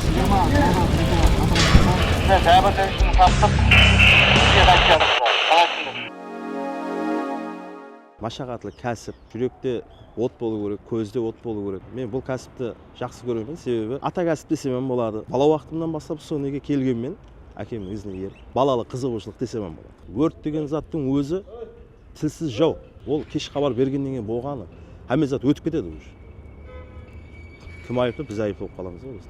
Jigama dollar qayta qatıra jasa. Mine jábirlenishini taptıq. Bizge qaytjarıq ol. Saǵa túsindirish. Mashaqatlı kásip, júrekte ot bolıu kerek, kózde ot bolıu kerek. Men bul kásipti jaqsı kóremen, sebebi ata kásip desem ham boladı. Bala waqtımnan baslap usı nege kelgenmen, ákemniń izine erip. Balalıq qızıǵıushılıq desem ham boladı. Órt degen zattıń ózi. tilsiz jau ol kesh xabar bergennen keyin bolǵanı xámme zat ótip ketedi uj kim ayıplı biz ayıplı bolıp qalamız ǵoy biz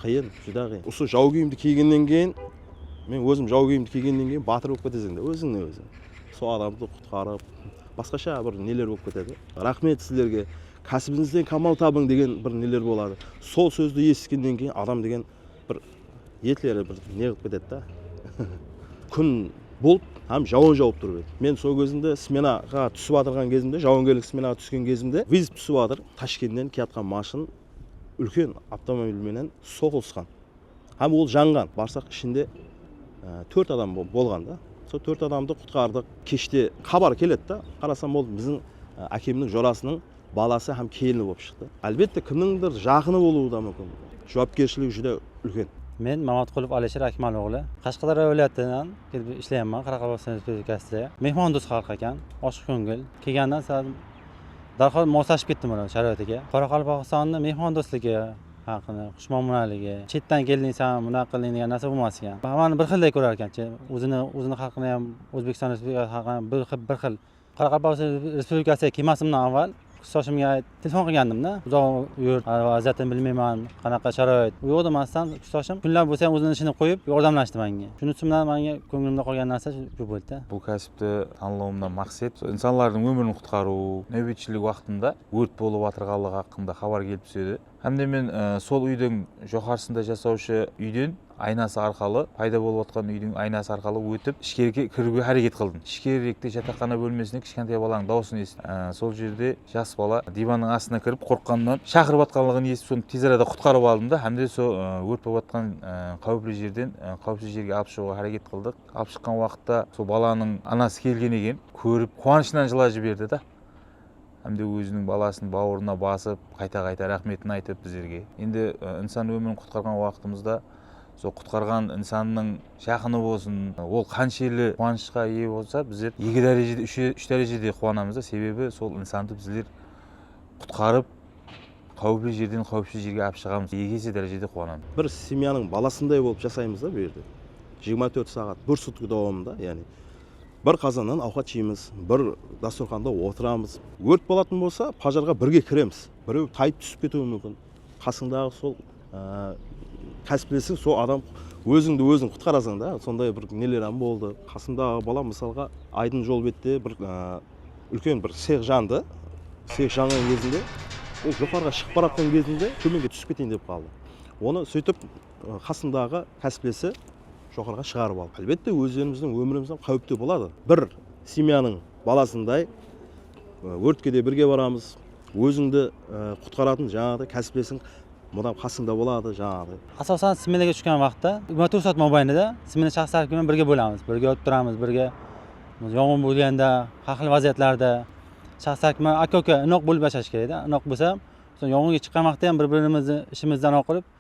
qıyın júdá qıyın usı jau kiyimdi kiygennen keyin men ózim jau kiyimdi kiygennen keyin batır bolıp keteseń da ózińe óziń sol adamdı qutqarıp basqasha bir neler bolıp ketedi raxmet sizlerge kásibińizden kamal tabıń degen bir neler boladı sol sózdi esitkennen keyin adam degen Bir etleri bir neǵip ketedi da kún bult hám jawın jawıp turıp edi men sol gezimde smenaǵa túsip atırǵan gezimde jawıngerlik smenaǵa túsken gezimde vızb túsip atır tashkentten kiyatqan mashın úlken avtomobil menen soqılısqan hám ol janǵan barsaq ishinde tórt adam bolǵan da sol tórt adamdı qutqardıq keshte xabar keledi da qarasam ol biziń ákemniń jorasınıń balası hám kelini bolıp shıqtı. Álbette, kimnińdir jaqını bolıwı da múmkin. Juwapkershiligi júdá úlken. Men Mamatqulov Alisher Akmal oǵlı. Qashqadaryo wálayatınan kelip ishleyamman Qaraqalpaqstan Respublikasıda. Mehmandost xalıq eken, oshıq kóngil. Kelgeninden sal dárhal moslashıp kettim olardıń sharayatiga. Qoraqalpaqstannıń mehmandostligi haqqında, xushmuomalaligi, shetdan keldiń saǵan bunaq qildiń degen nárse bolmas eken. Hámmeni bir xilday kórer eken. Óziniń xalqına hám Ózbekstan Respublikasınıń xalqına hám bir xil Qaraqalpaqstan Respublikası kemasımnan avval kuz soshımge telefon qilgandim da uzaq yurt vaziyatın bilmeyman qanaqa sharoit uyǵo da mastan kuz soshım kunlap ósem óziniń ishine qoyıp yordamlashti mánge shunisi bilan mánge kóngilimde qolgan narsa shu boldi da. Bul kásipti tanlawımnan maqset sol insanlardıń ómirin qutqarıw, náwbetshilik waqtında órt bolıp atırǵanlıǵı haqqında xabar kelip túsedi. Hám de men sol úydiń joqarısında jasawshı úyden aynası arqalı, payda bolıp atqan úydiń aynası arqalı ótip, ishkerikge kiriwge háreket qıldım. Ishkerikte jataqxana bólmesinde kichkentay balańıń dawısın esittim. Sol jerde jas bala divanıń astına kirip, qorqqanınan shaqırıp atqanlıǵın esitip, sonı tez arada qutqarıp aldım da, hám de sol órt bolıp atqan qáwipli jerden qáwipsiz jerge alıp shıǵıwǵa háreket qıldıq. Alıp shıqqan waqıtta sol balanıń anası kelgen eken, kórip, quwanıshınan jılajı berdi da. hám de óziniń balasın bawırına basıp qayta-qayta raxmetin aytıp bizlerge endi insan ómirin qutqarǵan waqıtımızda sol qutqarǵan insannıń jaqını bolsın ol qanshelli quwanıshqa iye bolsa bizler eki dárejede úsh dárejede quwanamız da sebebi sol insandı bizler qutqarıp qáwipli jerden qáwipsiz jerge alıp shıǵamız eki ese dárejede quwanamız. Bir semyanıń balasınday bolıp jasaymız da bul jerde jigirma tórt saǵat bir sutki dawamında yani Bir qazannan awqat jeymiz, bir dasturxanda otıramız. Órt bolatın bolsa, pajarǵa birge kiremiz. Birew tayıp túsip ketiwi múmkin. Qasıńdaǵı sol kásiplesiń, sol adam ózińdi óziń qutqarasań da, sonday bir neler hám boldı. Qasımdaǵı balam, mısalǵa, aydın jol bette bir úlken bir sex jandı. Sex janǵan gezinde, ol joqarıǵa shıǵıp baratqan gezinde tómenge túsip keteyin dep qaldı. Onı sóytip. Qasındaǵı kásiplesi joqarǵa shıǵarıp alıp álbette ózlerimizdiń ómirimizde qáuipte boladı bir semyanıń balasınday órtke de birge baramız ózińdi qutqaratın jańaǵıday kásiplesiń mudam qasıńda boladı jańaǵıday. Asosan smenaga túsken waqıtta jigirma tórt saat mobaynida smena shaqsı tárepke menen birge bolamız birge urıp turamız birge yongın bolganda xar xil vaziyatlarda shaqsı tárepke menen aka uka inoq bolip yashash kerek da inoq bolsa yongınga shıqqan waqıtta bir birimizdi ishimizdi anaw qılıp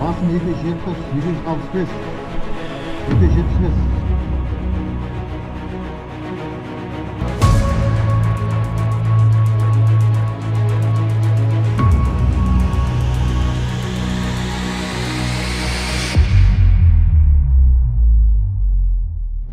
Basın eki jetpis eki júz alpıs bes eki jetpis bes.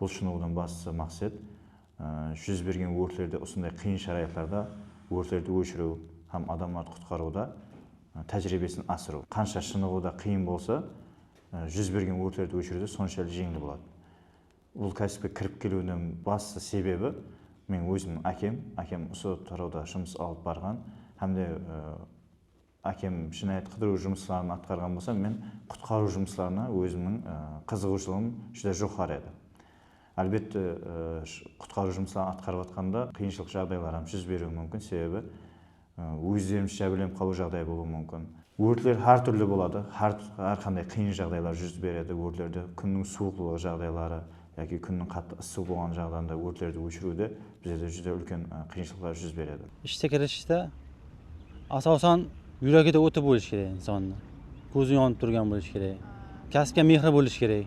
Bul shınıǵıwdan baslı maqset júz bergen órtlerde usınday qıyın sharayatlarda órtlerdi óshiriw hám adamlardı qutqarıwda tájiriybesin asırıw. Qansha shınıǵıwda qıyın bolsa, júz bergen órtlerdi óshiriwde sonshalı jeńil boladı. Bul kásipke kirip keliwiniń bastı sebebi meniń ózimniń ákem, ákem usı tarawda jumıs alıp barǵan hám de ákem jınayat qıdırıw jumısların atqarǵan bolsa, men qutqarıw jumıslarına ózimniń qızıǵıwshılıǵım júdá joqarı edi. Álbette, qutqarıw jumısların atqarıp atqanda qıyınshılıq jaǵdaylar hám júz beriwi múmkin, sebebi Ózlerimiz jábirlenip qalıw jaǵdayı bolıwı múmkin. Órtler hár túrli boladı, hár qanday qıyın jaǵdaylar júz beredi, órtlerde kúnniń suwıqlılıǵı jaǵdayları yaki kúnniń qattı ıssı bolǵan jaǵdayında órtlerdi óshiriwde bizlerde júdá úlken qıyınshılıqlar júz beredi. Ishti kirishte asawsan júregi de óti bolishi kerek insannıń, kózi yonıp túrgen bolishi kerek, kásipke mehri bolishi kerek.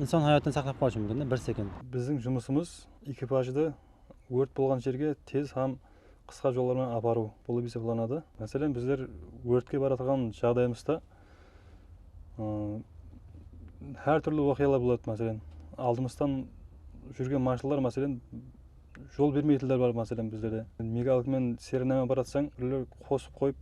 Insan hayatın saqlap qalıwshı múmkin de bir sekund. Biziń jumısımız ekipajdı órt bolǵan jerge tez hám qısqa jollar menen aparıw bolıp esaplanadı. Máselen, bizler órtke baratırǵan jaǵdayımızda hár túrli waqıyalar boladı. Máselen, aldımızdan júrgen marshruttlar máselen Jol bermeytinler bar máselen bizlerde. Mega alkmen serenama baratsań birewler qosıq qoyıp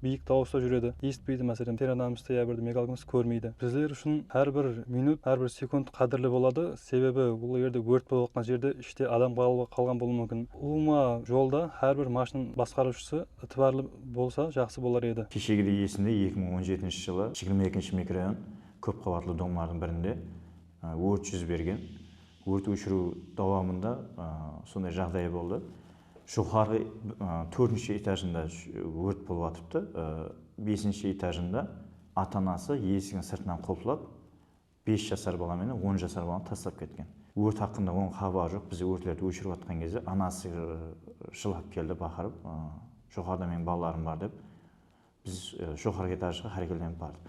biyik dawısta júredi esitpeydi máselen serenamızdı ya birdi mega alkmist kórmeydi. Bizler ushın hár bir minut hár bir sekund qádirli boladı sebebi ol jerde órt bolıp atqan jerde ishte adam qalǵan bolıwı múmkin. Ulıwma jolda hár bir mashın basqarıwshısı itibarlı bolsa jaqsı bolar edi. Keshegidey esimde eki mıń on jetinshi jılı jigirma ekinshi mikrorayon kóp qabatlı domlardıń birinde órt júz bergen. Órt óshiriw dawamında sonday jaǵday boldı, joqarǵı tórtinshi etajında órt bolıp atırıptı, besinshi etajında ata-anası esigin sırtınan qulıplap, bes jasar bala menen on jasar balanı taslap ketken. Órt haqqında onıń xabarı joq, biz órtlerdi óshirip atırǵan gezde anası jılap keldi baqırıp, joqarıda meniń balalarım bar dep, Biz joqarǵı etajǵa xárekelenip bardıq.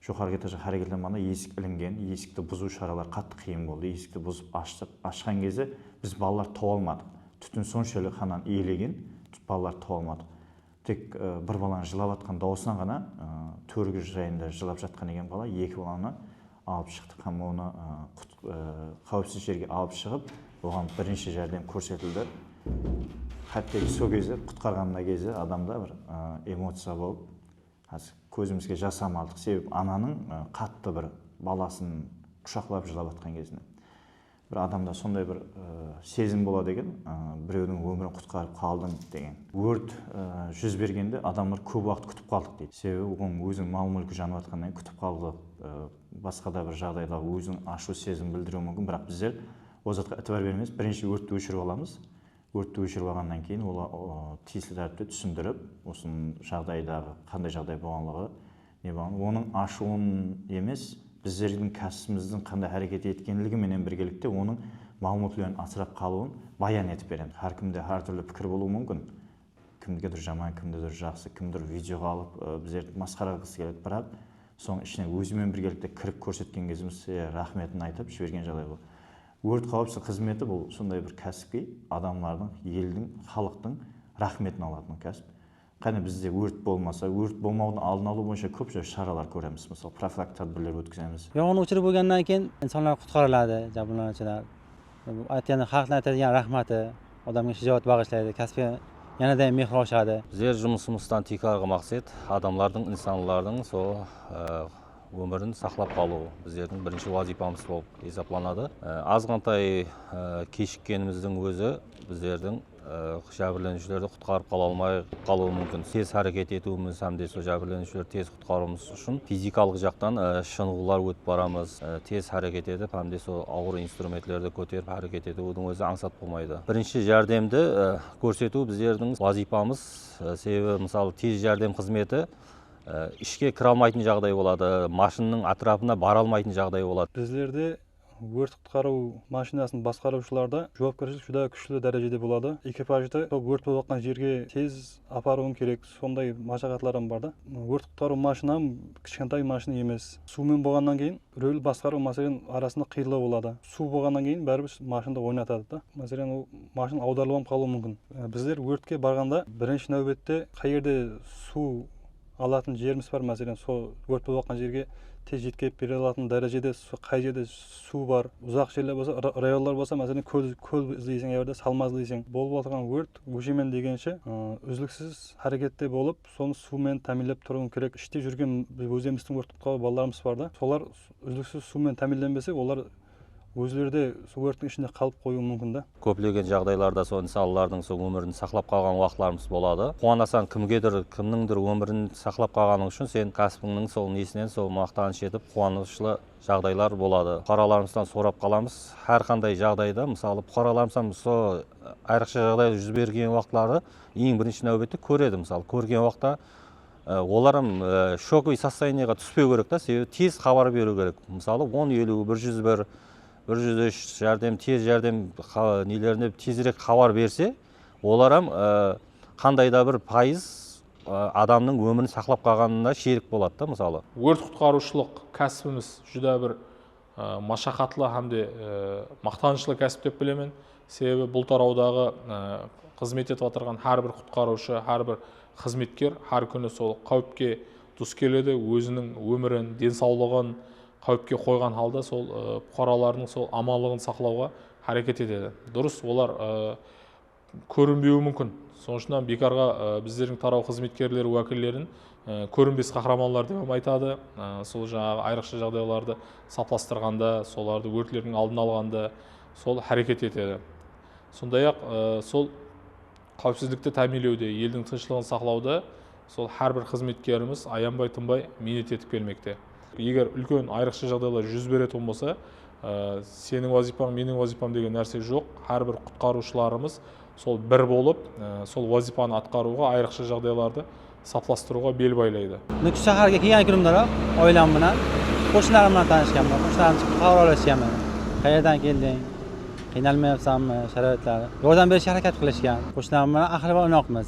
Joqarǵı etajǵa xárekelenbanda esik ilingen, esikti buzıw sharaları qattı qıyın boldı. Esikti buzıp ashtıq. Ashqan kezi biz balalar tawıp almadıq. Tútin sonshalik xananı iyelegen, balalardı tawıp almadıq. Tek bir balanıń jılap atqan dawısınan ǵana tórgi jayında jılap jatqan eken bala, eki balanı alıp shıqtıq hám onı qáwipsiz jerge alıp shıǵıp, oǵan birinshi járdem kórsetildi. Hátteki sol gezde qutqarǵanımda kezi adamda bir emociya bolıp, házir kózimizge jas ham aldıq, sebebi ananıń qattı bir balasın qushaqlap jılap atqan gezine. Bir adamda sonday bir sezim boladı eken, birewdiń ómirin qutqarıp qaldım degen. Órt júz bergende adamlar kóp waqıt kútip qaldıq deydi. Sebebi onıń óziniń mal-múlki janıp atqanınan keyin kútip qaldı, basqa da bir jaǵdayda óziniń ashıw sezim bildiriwi múmkin, biraq bizler ol zatqa itibar bermeys, birinshi órtti óshirip alamız, Órtti óshirip alǵannan keyin olar tiyisli tárepte túsindirip, usı jaǵdaydaǵı qanday jaǵday bolǵanlıǵı, ne bolǵanlıǵı, onıń ashıwın emes, bizlerdiń kásitimizdiń qanday háreket etkenligi menen birgelikte onıń maǵlıwmatleriniń asırap qalıwın bayan etip beremiz. Hár kimde hár túrli pikir bolıwı múmkin. Kimnikidur jaman, kimnidur jaqsı, kimnidur videoǵa alıp bizlerdi masqara qılǵısı keledi. Biraq sonıń ishinen ózimnen birgelikte kirip kórsetken kezimizde raxmetin aytıp jibergen jaǵday bolıp. Órt qáwipsizlik xızmeti bul sonday bir kásipki, adamlardıń, eldiń, xalıqtıń raxmetin alatın kásip. Qáne bizde órt bolmasa, órt bolmawdıń aldın alıw boyınsha kóp jás sharalar kóremiz, mısalı profilaktik tádbirler ótkizemiz. Yanǵın óshirip bolǵannan keyin insanlar qutqarıladı, jabrlanıwshılar. Bul aytqanda xalıqtıń aytadigan raxmatı, odamǵa shajawat baǵıshlaydı, káspke yanada ham mehri oshadı. Bizler jumısımızdan tiykarǵı maqset, adamlardıń, insanlardıń sol. Ómirin saqlap qalıw bizlerdiń birinshi wazıypamız bolıp esaplanadı. Azǵantay keshikkenimizdiń ózi bizlerdiń jábirleniwshilerdi qutqarıp qala almay qalıwı múmkin. Tez háreket etiwimiz hám de sol jábirleniwshilerdi tez qutqarıwımız ushın fizikalıq jaqtan shınıǵıwlar ótip baramız. Tez háreket etip hám de sol awır instrumentlerdi kóterip háreket etiwdiń ózi ańsat bolmaydı. Birinshi járdemdi kórsetiw bizlerdiń wazıypamız. Sebebi mısalı tez járdem xızmeti ishke kire almaytın jaǵday boladı, mashinnıń átirapına bara almaytın jaǵday boladı. Bizlerde órt-qutqarıw mashinasın basqarıwshılarda juwapkershilik júdá kúshli dárejede boladı. Ekipajdı sol órt bolıp atqan jerge tez aparıwıń kerek, sonday mashaqatlar ham bar da. Órt-qutqarıw mashina ham kishkentay mashina emes. Suwmen bolǵannan keyin rúl basqarıw máselen arasında qıyınlaw boladı. Suw bolǵannan keyin báribir mashinda oynatadı da. Máselen, ol mashina awdarılıp ham qalıwı múmkin. Bizler órtke barǵanda birinshi náwbette qay jerde suw alatın jerimiz bar, máselen, sol órt bolıp atqan jerge tez jetkerip bere alatın dárejede qay jerde suw bar, uzaq jerler bolsa, rayonlar bolsa, máselen, kól kól izleyseń, ol jerde salma izleyseń. Bolıp atırǵan órt óshemen degenshe úzliksiz hárekette bolıp, sonı suw menen támiynlep turıwın kerek ishte júrgen ózemizdiń órt qutqarıw balalarımız bar da solar úzliksiz suw menen támiynlenbese olar ózleri de suw órttiń ishinde qalıp qoyıwı múmkin da. Kóplegen jaǵdaylarda sol insanlardıń sol ómirin saqlap qalǵan waqıtlarımız boladı quwanasań kimgedir kimnińdir ómirin saqlap qalǵanıń ushın sen kásiptińniń sol nesinen sol maqtanısh etip quwanıshlı jaǵdaylar boladı puqaralarımızdan sorap qalamız hár qanday jaǵdayda mısalı puqaralarımızdan sol ayrıqsha jaǵdaylar júz bergen waqıtları Eń birinshi náwbette kóredi mısalı kórgen waqta olar hám shokovıy sostoyaniyaǵa túspew kerek ta sebebi tez xabar beriw kerek mısalı on eliw bir júz bir bir júz úsh járdem tez járdem nelerine tezirek xabar berse olar hám qanday da bir payız adamnıń ómirin saqlap qalǵanına sherik boladı da mısalı. Órt qutqarıwshılıq kásibimiz júdá bir mashaqatlı hám de maqtanıshlı kásip dep bilemen, sebebi bul tarawdaǵı xızmet etip atırǵan hár bir qutqarıwshı, hár bir xızmetker hár kúni sol qáwipke dus keledi, óziniń ómirin, densawlıǵın qáwipke qoyǵan halda sol puqaralardıń sol amanlıǵın saqlawǵa háreket etedi. Durıs, olar kórinbeui múmkin. Sonıń ushın hám biykarǵa bizlerdiń taraw xızmetkerleri wákillerin kórinbes qahramanlar dep hám aytadı. Sol jańaǵı ayrıqsha jaǵdaylardı saplastırǵanda, solardı órtlerdiń aldın alǵanda sol háreket etedi. Sonday-aq, sol qáwipsizlikti támiyinlewde, eldiń tınıshlıǵın saqlawda, Sol hár bir xızmetkerimiz ayanbay-tınbay miynet etip kelmekte. Eger úlken ayrıqsha jaǵdaylar júz beretuǵın bolsa, seniń wazıypań, meniń wazıypam degen nárse joq, hár bir qutqarıwshılarımız sol bir bolıp, sol wazıypanı atqarıwǵa, ayrıqsha jaǵdaylardı saplastırıwǵa bel baylaydı. Nukus sháhárge kelgen kúnimderoq oilam menen, qoshnilarim menen tanıshkanman. Qoshnilarim chiqıp xabaralesken menen. Qayerden keldiń, qıynalmay atırsanbı, sharoitlar, yordam berishke háreket qilishgan. Qoshnilarim menen aqırı bir unoqmiz.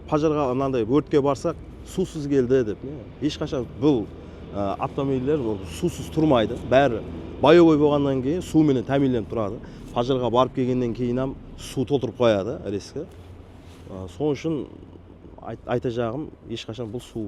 Pajarǵa mınanday órtke barsaq suwsız keldi dep ne hesh qashan bul avtomobiller suwsız turmaydı bári boyovoy bolǵannan keyin suw menen támiyinlenip turadı pajarǵa barıp kelgennen keyin ham suw toltırıp qoyadı rezki sonısh ushın aytajaǵım hesh qashan bul suw